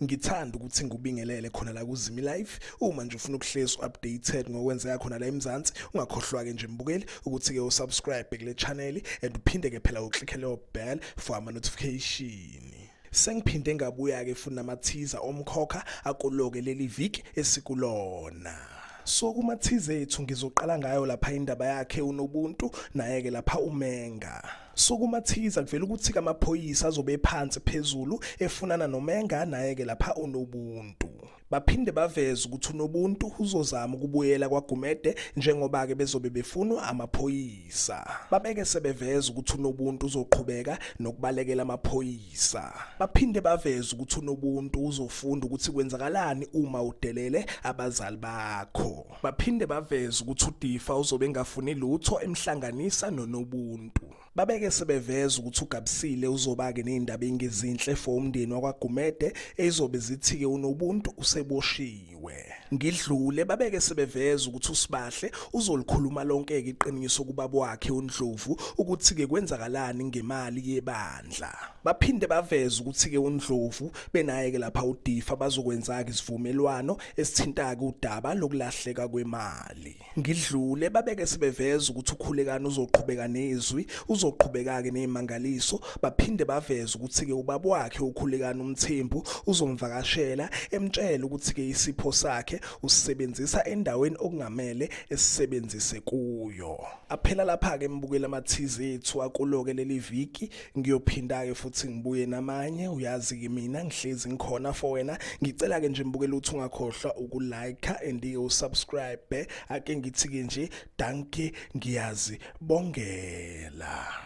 ngithanda ukuthi ngikubingelele khona la kuzimi life uma nje ufuna ukuhlezi updated ngokwenzeka khona la eMzansi ungakhohlwa ke nje mbukeli ukuthi ke usubscribe kule channel and uphinde ke phela uclick leyo bell for ama notification Sengiphinde ngabuya-ke futhi namathiza omkhokha akuloke leli viki esikulona. So kumathize ethu ngizoqala ngayo lapha indaba yakhe unobuntu naye-ke lapha umenga. So kumathiza kuvela ukuthi kamaphoyisa azobe phansi phezulu efunana nomenga naye-ke lapha unobuntu. Baphinde baveze ukuthi uNobuntu uzozama ukubuyela kwaGumede njengoba-ke bezobe befunwa amaphoyisa. Babeke sebeveza ukuthi uNobuntu uzoqhubeka nokubalekela amaphoyisa. Baphinde baveze ukuthi uNobuntu uzofunda ukuthi kwenzakalani uma udelele abazali bakho. Baphinde baveze ukuthi uDifa uzobe engafuni lutho emhlanganisa noNobuntu. Babeke sebeveza ukuthi uGabsile uzobake nezindaba engezinhle for umndeni wakwaGumede ezizobe zithike unobuntu useboshiwe. Ngidlule babeke sebeveza ukuthi uSibahle uzolikhuluma lonke ke iqiniso kubaba wakhe uNdlovu ukuthi ke kwenzakalani ngemali yebandla. Baphinde baveza ukuthi ke uNdlovu benaye ke lapha uDifa bazokwenza ke isivumelwano esithinta ke udaba lokulahleka kwemali. ngidlule babeke sebeveza ukuthi ukhulekani uzoqhubeka nezwi uzoqhubeka-ke nezimangaliso baphinde baveze ukuthi-ke ubaba wakhe ukhulekani umthembu uzomvakashela emtshele ukuthi-ke isipho sakhe usisebenzisa endaweni okungamele esisebenzise kuyo aphela lapha-ke mbukela amathize ethu akulo-ke leli viki ngiyophinda-ke futhi ngibuye namanye uyazi-ke mina ngihlezi ngikhona for wena ngicela-ke nje mbukela ukuthi ungakhohlwa ukulike and-ke usubscribe ake ngithi-ke nje danke ngiyazi bongela